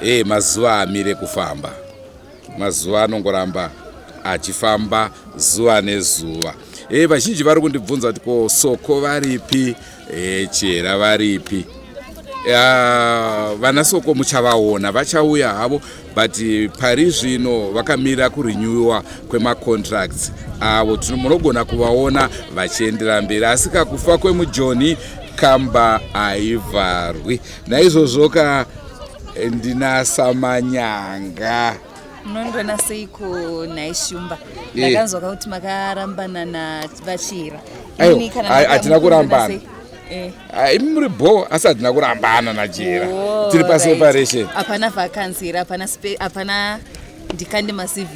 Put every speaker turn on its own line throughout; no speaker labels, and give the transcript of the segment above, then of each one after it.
Hey, mazuva amire kufamba mazuva anongoramba achifamba zuva nezuva hey, vazhinji vari kundibvunza kuti ko soko varipi hey, chihera varipi uh, vana soko muchavaona vachauya havo but pari zvino vakamira kurenewiwa kwemacontracts avo uh, munogona kuvaona vachiendera mberi asi kakufa kwemujoni kamba haivharwi naizvozvoka eh, ndinasamanyanga munondiona
seiko nhai shumba eh. ndakanzwa ka kuti makarambana navachira
hatina kurambana eh. ah, imi muri bho asi hatina kurambana nachira oh, tiri paseparation hapana vakanzi
here hapana ndikande macv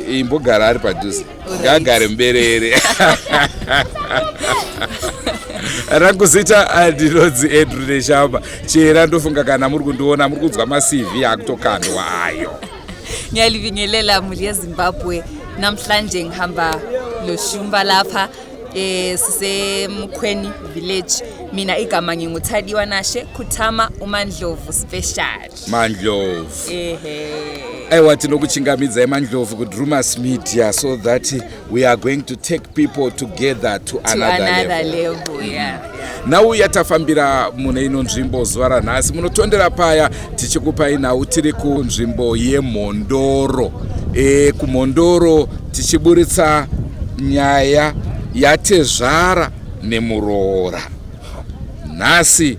imbogara ari
padhuze ngaagare muberere rangu zita andinonzi ah, andrew neshamba chera ndofunga kana muri kundiona muri kunzwa macv akutokandwa ayo ngiyalibingelela
muli yezimbabwe namhlanje ngihamba loshumba lapha eh sisemukhweni village mina igama nginguthadiwa nashe khuthama umandlovu special mandlovu
aiwa tinokuchingamidzai mandlovu kudrumas media so that we are going to take people together to, to another, another level, level. Mm -hmm. yeah, yeah nhau yatafambira mune ino nzvimbo zuva ranhasi munotondera paya tichikupai nhau tiri kunzvimbo yemhondoro e, kumhondoro tichiburitsa nyaya yatezvara nemuroora nhasi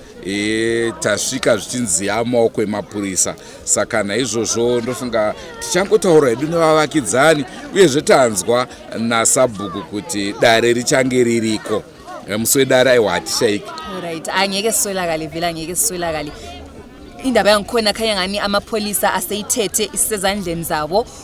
e, tasvika zvichinzi yamaoko emapurisa saka naizvozvo ndofunga tichangotaura hedu nevavakidzani uyezve tanzwa nasabhuku kuti dare richange ririko e, musi wedare aiwa hatishaiki right angeke
siswelakale vhele angeke siswelakale indaba yangikhona khanya ngani amapholisa aseyithethe isisezandleni zabo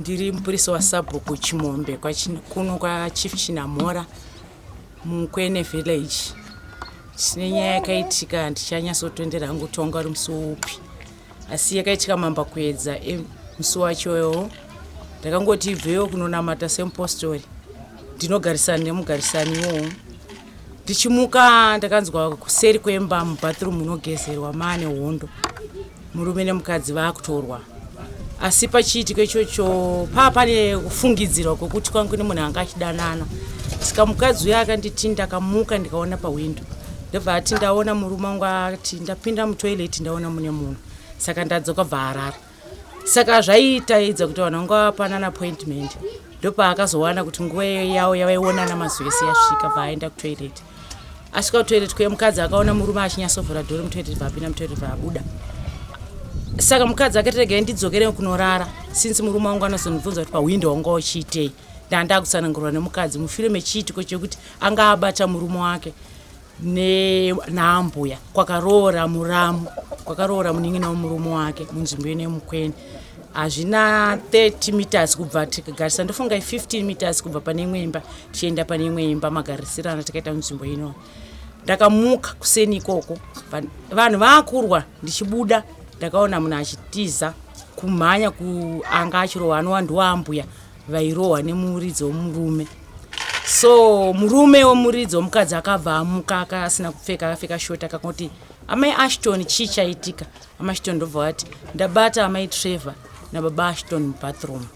Ndiri mupurisa wasabhuku Chimombe kuno kwaChief Chinamhora muKwene Village. Chine nyaya yakaitika handichanyasotondera hangu kuti wanga uri musi upi, asi yakaitika mamba kuedza eh, musi wachoyo ndakangoti ibveyo kunonamata semupostori ndinogarisana nemugarisani iwowo ndichimuka ndakanzwa kuseri kwemba mubathroom munogezerwa maane hondo murume nemukadzi vakutorwa asi pachiitiko ichocho paa pane kufungidzirwa kwekuti kwangu nemunhu anga achidanana saka mukadzi uya akanditi ndakamuka ndikaona pahwindo ndobva ati ndaona murume wangu ati ndapinda mutoilet ndaona mune munhu saka ndadzoka bva arara saka zvaitaedza kuti vanhu vanga vapanana appointment ndopaakazowana kuti nguva yawo yavaionana mazuva ese yasvika bva aenda kutoilet asvika kutoilet kuye mukadzi akaona murume achinyatsovhura dhori mutoilet bvaapinda mutoilet bvaabuda saka mukadzi akatirega ndidzokere kunorara since murume wangu anozonibvunza kuti pahwindo wanga uchiitei ndandaakutsanangurwa nemukadzi mushure mechiitiko chekuti anga abata murume wake ne naambuya kwakaroora muramu kwakaroora munin'ina wemurume wake munzvimbo ine mukwene hazvina 30 meters kubva tikagarisa ndofunga 15 meters kubva pane imwe imba tichienda pane imwe imba magarisirana takaita munzvimbo ino ndakamuka kuseni ikoko vanhu vakurwa ndichibuda ndakaona munhu achitiza kumhanya kuanga achirohwa anowa ndiwaambuya vairohwa nemuridzo wemurume so murume wemuridzo mukadzi akabva amuka aka asina kupfeka akapfeka short akangoti amai ashton chii chaitika amai ashton ndobva vati ndabata amai trevor nababa ashton mubathroom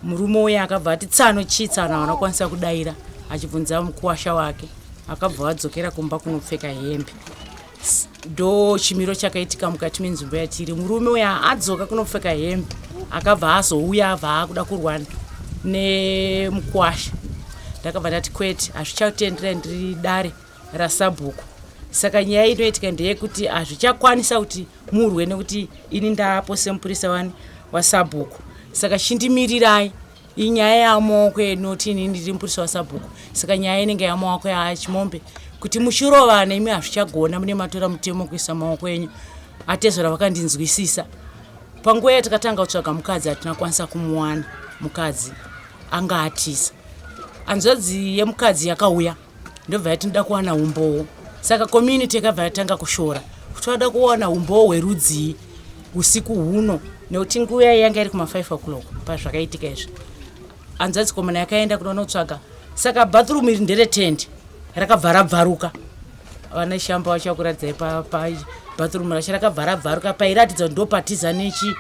murume uye akabva ati tsano chii tsano havana kukwanisa kudaira achibvunza mukuwasha wake akabva vadzokera kumba kunopfeka hembe ndo chimiro chakaitika mukati menzvimbo yatiri murume uya adzoka kunopfeka hembe akabva azouya abva akuda kurwana nemukwasha ndakabva ndati kwete hazvichatendera ndiri dare rasabhuku saka nyaya inoitika ndeyekuti hazvichakwanisa kuti murwe nekuti ini ndaapo semupurisa wani wasabhuku saka chindimirirai inyaya yamaoko edu noti ini ndiri mupurisa wasabhuku saka nyaya inenge yamaoko yaachimombe kuti muchirovana imi hazvichagona mune matora mutemo kuisa maoko enyu atezvara vakandinzwisisa panguva yatakatanga kutsvaga mukadzi hatina kwanisa kumuwana mukadzi anga atisa hanzvadzi yemukadzi yakauya ndobva yati ndoda kuwana umbowo saka community yakabva yatanga kushora kuti vada kuwana umbowo hwerudzii usiku huno nekuti nguva yai yanga iri kuma5 o'clock pazvakaitika izvi hanzvadzi komana yakaenda kunonotsvaga saka bathroom iri ndere tende rakabva rabvaruka vana shamba vachakuradzai pabathroom racho rakabva rabvaruka pairatidza kuti ndopatiza nechi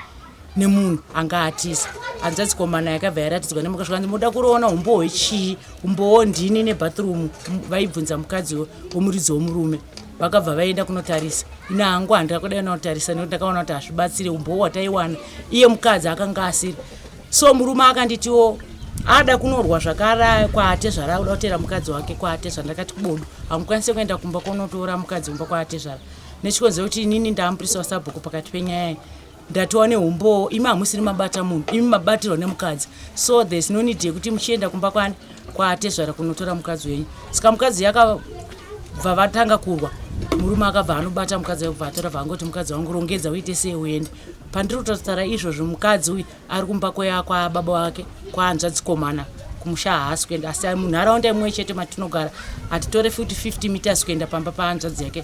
nemunhu anga atiza hanzvadzi komana yakabva yaratidzwa nemuka zvikanzi moda kuroona umbowo chii umbowo ndini nebathroom vaibvunza mukadzi womuridzi womurume vakabva vaenda kunotarisa ina hangu handira kudai naotarisa nekuti ndakaona kuti hazvibatsire umbowo wataiwana iye mukadzi akanga asiri so murume akanditiwo ada kunorwa zvakara kwaatezvara auda kutera mukadzi wake kwaatezvara ndakati kubodo hamukwanise kuenda kumba konotora mukadzi kumba kwaatezvara nechikonzero kuti inini ndaamupurisa wasabhuku pakati penyaya Ndatova nehumboo imi hamusiri mabata munhu imi mabatirwa nemukadzi so there's no need yekuti muchienda kumba kwani kwaatezvara kunotora mukadzi wenyu saka mukadzi yakabva vatanga kurwa murume akabva anobata mukadzi akubva atora vangoti mukadzi wangu rongedza uite sei uende pandiri kutotaura izvozvo mukadzi uyu ari kumba kweya kwababa wake kwaanzvadzikomana kumusha haasi kuenda asi munharaunda imwe chete matinogara hatitore futi 50 meters kuenda pamba paanzvadzi yake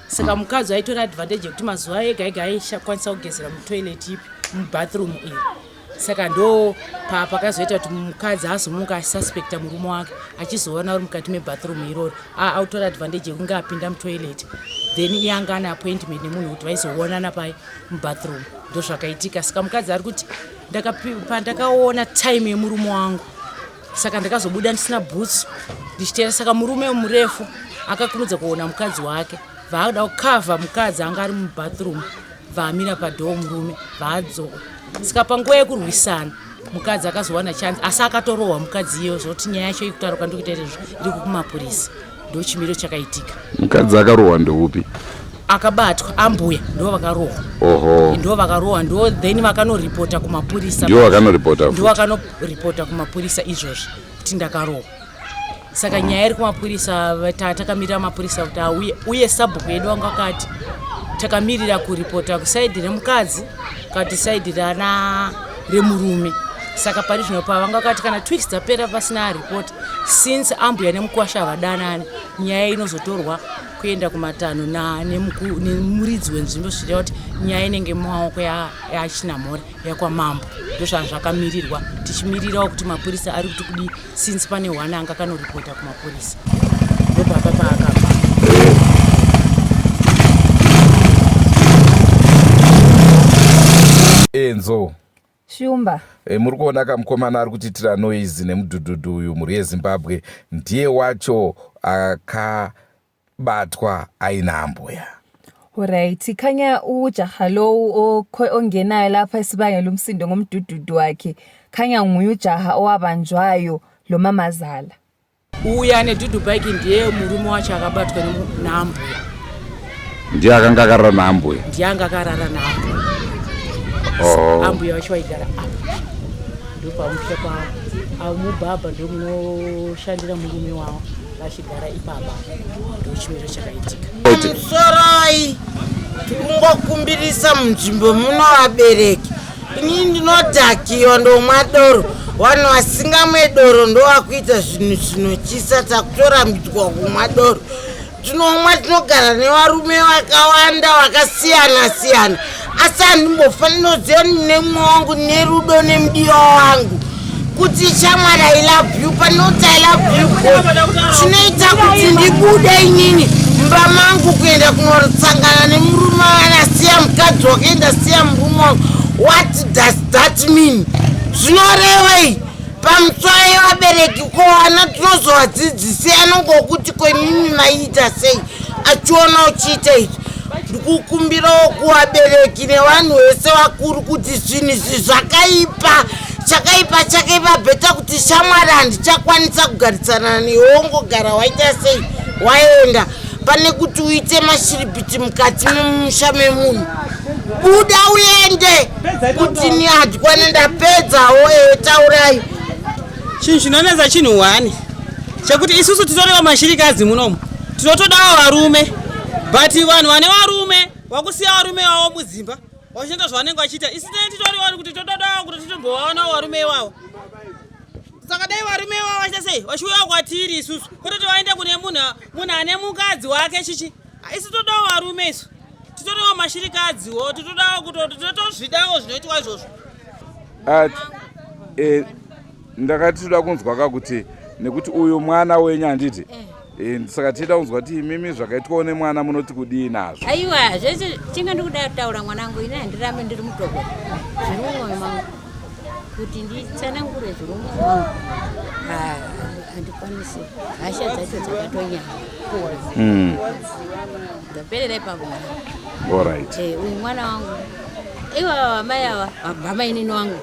saka mukadzi aitora advantage yekuti mazuva ega ega aishakwanisa kugezera mutoilet ipi mubathroom iyi saka ndo pakazoita kuti mukadzi azomuka asuspecta murume wake achizoona uri mukati mebathroom iroro autora advantage yekunge apinda mutoilet then iye anga ane appointment nemunhu wekuti vaizoonana pai mubathroom ndozvakaitika saka mukadzi ari kuti pandakaona time yemurume wangu saka ndakazobuda ndisina bhutsu ndichiteera saka murume murefu akakurudza kuona mukadzi wake vaakuda kukavha mukadzi anga ari mubathroom vaamira padhoo murume vaadzoka saka panguva yekurwisana mukadzi akazowana chanzi asi akatorohwa mukadzi iyeyo zvokuti nyaya yacho ikutaruka ndikuita iri kumapurisa ndochimiro chakaitika mukadzi akarohwa
ndeupi akabatwa
ambuya ndo vakarohwa oho ndo
vakarohwa ndo
then vakanoripota kumapurisa ndo vakanoripota
ndo vakanoripota
kumapurisa izvozvi kuti ndakarohwa saka nyaya iri kumapurisa tatakamira mapurisa kuti auye uye sabhuku yedu vanga vakati takamirira kuripota kusaidhi remukadzi kati saidhi rana remurume saka pari zvino pavanga vakati kana twiks dzapera pasina report since ambuya nemukwasha havadanani nyaya inozotorwa kuenda kumatanho nemuridzi wenzvimbo zvichireva kuti nyaya inenge mumaoko yachina mhore yakwamambo ndozvaa zvakamirirwa tichimirirawo kuti mapurisa ari kuti kudii since pane hwana anga kanoripota kumapurisa ndopapa paakapa
enzo Shumba.
Hey muri kuona
ka mukomana ari kutiitira noise nemudhudhudhu uyu mhuri yezimbabwe ndiye wacho akabatwa aina ambuya Alright,
khanya ujaha lowu ongenayo lapha esibangela umsindo ngomdududu wakhe. Khanya nguye ujaha owabanjwayo lo mamazala. uya ane
dudubike ndiye murume wacho akabatwa naambuya
ndiye akanga akarara naambuya ndiye anga akarara
naambuya oh. ambuya vacho vaigara apa ndopamusha pavo mubhabha ndomunoshandira murume wavo vachigara ipapa ndochimiro chakaitika musoroi
tikungokumbirisa munzvimbo muno vabereki ini ndinodhakiwa ndomwa doro vanhu vasingamwe doro ndovakuita zvinhu zvinotyisa takutorambidzwa kumwa doro tinomwa tinogara nevarume vakawanda vakasiyana siyana asi handimbofanira kuziva nemwe wangu nerudo nemudiwa wangu kuti shamwari i love you panoti i love you chinoita kuti ndibude inini mumba mangu kuenda kunosangana nemurume anasiya mukadzi wakaenda siya murume wangu what does that mean zvinorevei pamutswayi vabereki ko ana tinozovadzidzisei anongokuti ko imimi maiita sei achiona uchiita izvi ndikukumbirawo kuvabereki nevanhu vese vakuru kuti zvinhu izvi zvakaipa chakaipa chakaipa beta kuti shamwari handichakwanisa kugarisana nehongo gara waita sei waenda pane kuti uite mashiripiti mukati memusha memunhu buda uende kuti ni hadikwane ndapedzawo ewe taurai
chinhu chinonetsa chinhu hwani chekuti isusu titoriva mashirikazi munomu tinotodawo varume but vanhu vane varume wakusiya varume vavo mudzimba vachinoita zvavanenge vachiita isi tine titori wari kuti totodawo kuti titombovaonawo varume ivavo saka dai varume ivavo vachiita sei vachiuyawo kwatiri isusu kutoti vaende kune munhu munhu ane mukadzi wake chichi isi todawo varume isu titorewo mashirikadziwo titodawo kutotozvidawo zvinoitwa izvozvo e,
ndakati toda kunzwa ka kuti nekuti uyu mwana wenyu handiti eh. and saka tichida kunzwa kuti imimi zvakaitwawo nemwana munoti kudii nazvo aiwa zvese
chinga ndikuda kutaura mwanangu ini handirambe ndiri mutoko zviri mumwoyo mangu kuti nditsanangure zviri mumwoyo mangu ah, handikwanisi hasha dzacho dzakatonyaya hmm. ndaperera ipapo mwana orit eh, uyu
mwana wangu
iwa vamai ava vabamainini wangu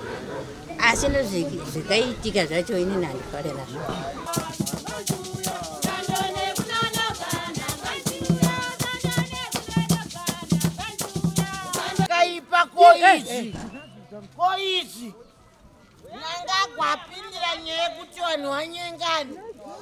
asi nezvikaitika zvacho ini nandifare nazvo
kaipa koizi koizi nanga kwapindira nyaya yekuti vanhu vanyengani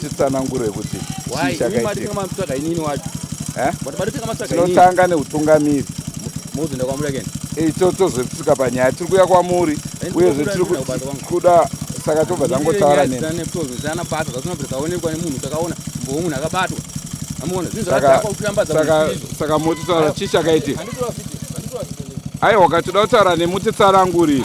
titsanangure kuti chii chakaitika inini wacho eh? tinotanga neutungamiri eh, tozotsika panyaya tiri kuya kwamuri uyezve tiri kuda saka tobva tangotaura saka moti taura chii chakaitika aiwa katoda kutaura nemi utitsarangurii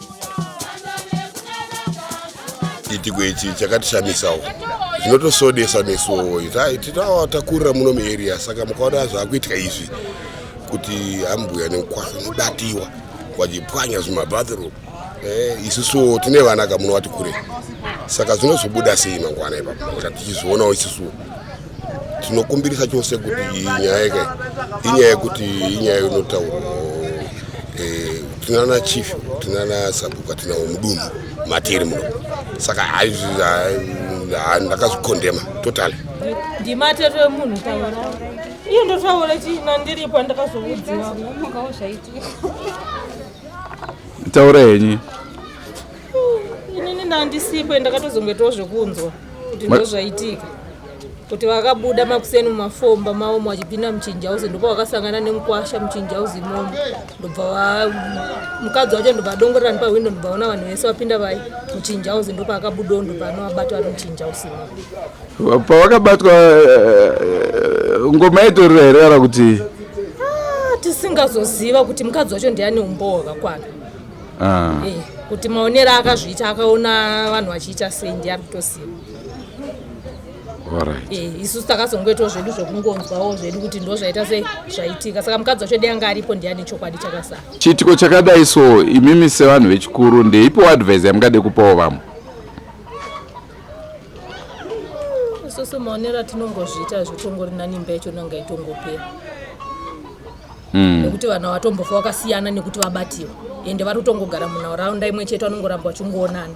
chiitiko ichi chakatishamisawo zvinotosodesa nesuwo titawa takurira muno muarea saka mukaona zvakuitika izvi kuti ambuya nemukwasha nobatiwa vachipwanya zvimabathroom eh, isusuwo tine vana kamuno vati kure saka zvinozobuda sei mangwana ipapo tichizvionawo isusuwo tinokumbirisa chose kuti nyaya yake inyaya yekuti inyaya inotaurwa eh, tinana chief tinana sabhuku atinawo mudunhu matiri muno saka ndakazvikondema totally ndimatero
emunhu taura iyo ndotaura chii nandiripo ndakazoudziwa
taura henyu
inini ndandisipo ende ndakatozongoitawo zvekunzwa kuti ndozvaitika kuti vakabuda makuseni mumafomba mavo mwachipinda muchinji hausi ndopa vakasangana nemukwasha muchinji hausi imomo ndobva mukadzi wacho ndobva adongorera nepahwindo ndobva ona vanhu vese vapinda vai muchinji hausi ndopa akabudawo ndobva anovabatwa vari muchinji hausi imomo pavakabatwa eh,
eh, ngoma yaitorera here kana kuti ah, tisingazoziva
kuti mukadzi wacho ndiani umbowo wakakwana ah. eh, kuti maonero akazviita akaona vanhu vachiita sei ndiye ari kutoziva eh, isusu takazongoitawo zvedu zvekungonzwawo zvedu kuti ndo zvaita sei zvaitika saka mukadzi wacho dei anga aripo ndiye ane chokwadi chakasara chiitiko chakadai
so imimi sevanhu vechikuru ndeipo advise yamungade kupawo vamwe
isusu maonero atinongozviita zvitongori nanimba yacho nanga itongopera mm. nekuti vanhu vatombofa vakasiyana nekuti vabatiwa ende vari kutongogara munharaunda imwe chete vanongoramba vachingoonana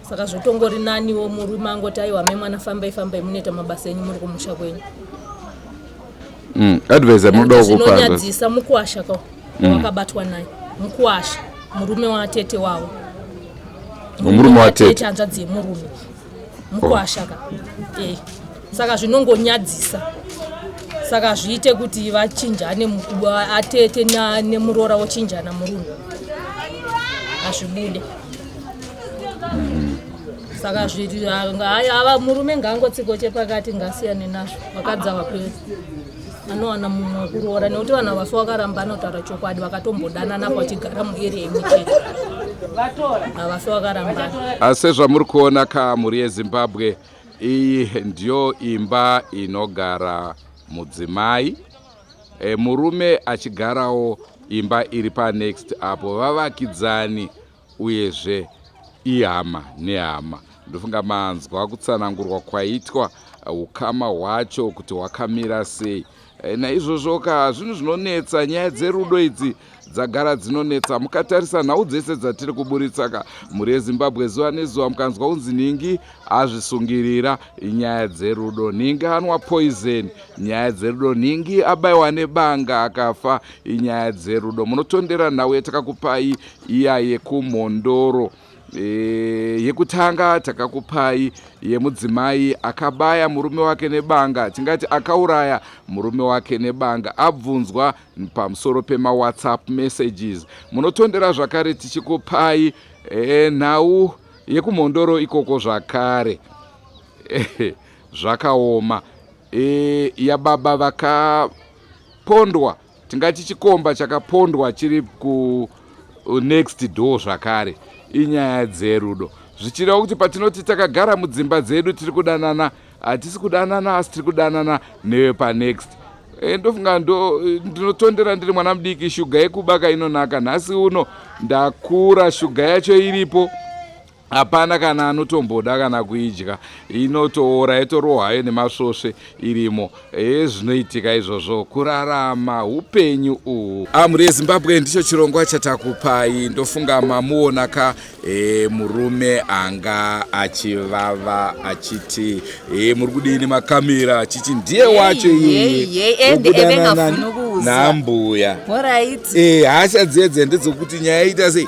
saka zvotongori naniwo murume angoti aiwa me mwana fambai fambai munoita mabasa enyu muri kumusha kwenyu mm.
advisor munoda kupanzvonyadzisa mukuwasha
ka mm. wakabatwa naye mukuwasha murume watete wavo
murume watete hanzvadzi yemurume
mukwasha ka eh saka zvinongonyadzisa saka zviite kuti vachinjane atete nemuroora wochinjana murunhu hazvibude saka zviri ava murume ngaangotsiko chepakati ngasiyane nazvo vakadzi ava kwese anowana mumwe wekuroora nekuti vanhu avasu vakaramba anotaura chokwadi vakatombodanana pachigara mueri emuchete avasu vakaramba asi zvamuri
kuona ka mhuri yezimbabwe iyi ndiyo imba inogara mudzimai e, murume achigarawo imba iri panext apo vavakidzani uyezve ihama nehama ndofunga manzwa kutsanangurwa kwaitwa uh, ukama hwacho kuti hwakamira sei eh, naizvozvo ka zvinhu zvinonetsa nyaya dzerudo idzi dzagara dzinonetsa mukatarisa nhau dzese dzatiri kuburitsa ka mhuri yezimbabwe zuva nezuva mukanzwa kunzi nhingi azvisungirira nyaya dzerudo nhingi anwa poison nyaya dzerudo nhingi abaiwa nebanga akafa inyaya dzerudo munotondera nhau yatakakupai iya yekumhondoro e, yekutanga takakupai yemudzimai akabaya murume wake nebanga tingati akauraya murume wake nebanga abvunzwa pamusoro pemawhatsapp messages munotondera zvakare tichikupai e, nhau yekumhondoro ikoko zvakare e, zvakaoma e, yababa vakapondwa tingati chikomba chakapondwa chiri ku uh, next door zvakare inyaya dzerudo zvichireva kuti patinoti takagara mudzimba dzedu tiri kudanana hatisi kudanana asi tiri kudanana newepanext eh, ndofunga ndo eh, ndinotondera ndiri mwana mudiki shuga yekubaka inonaka nhasi uno ndakura shuga yacho iripo hapana kana anotomboda kana kuidya inotoora yotorohwa hayo nemasvosve irimo hee zvinoitika izvozvo kurarama upenyu uhu amhuri yezimbabwe ndicho chirongwa chatakupai ndofunga mamuona ka e, murume anga achivava achiti e, muri kudini makamera achiti ndiye wacho iyeekudanana nambuya e, hasha dzedze ndedzokuti nyaya ita sei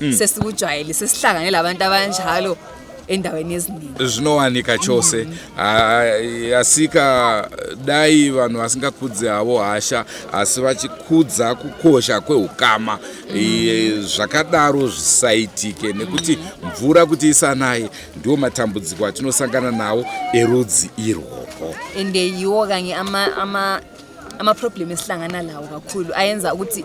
mm. sesikujwayele sesihlangane labantu abanjalo endaweni eziningi zvinowanika chose
mm. asika dai vanhu vasingakudzi havo hasha asi vachikudza kukosha kweukama mm. zvakadaro zvisaitike nekuti mm. mvura kuti isanaye ndiwo matambudziko atinosangana nawo erudzi irworwo ende yiwo
kanye amaproblem ama esihlangana lawo kakhulu ayenza ukuthi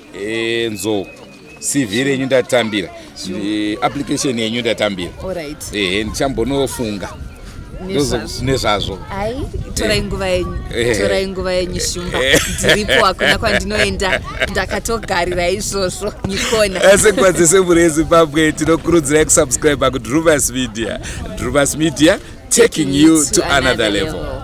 enzo cv renyu ndatambira eh, application yenyu ndatambira ehe
ndichambonofunga
nezvazvo hai
torai eh. nguva yenyu eh. torai nguva yenyu eh. shumba ndiripo hakuna kwandinoenda ndakatogarira izvozvo nikona sekwa dzese mhuri
yezimbabwe tinokurudzirai kusubscribe kudruvas media druvas media taking you to another level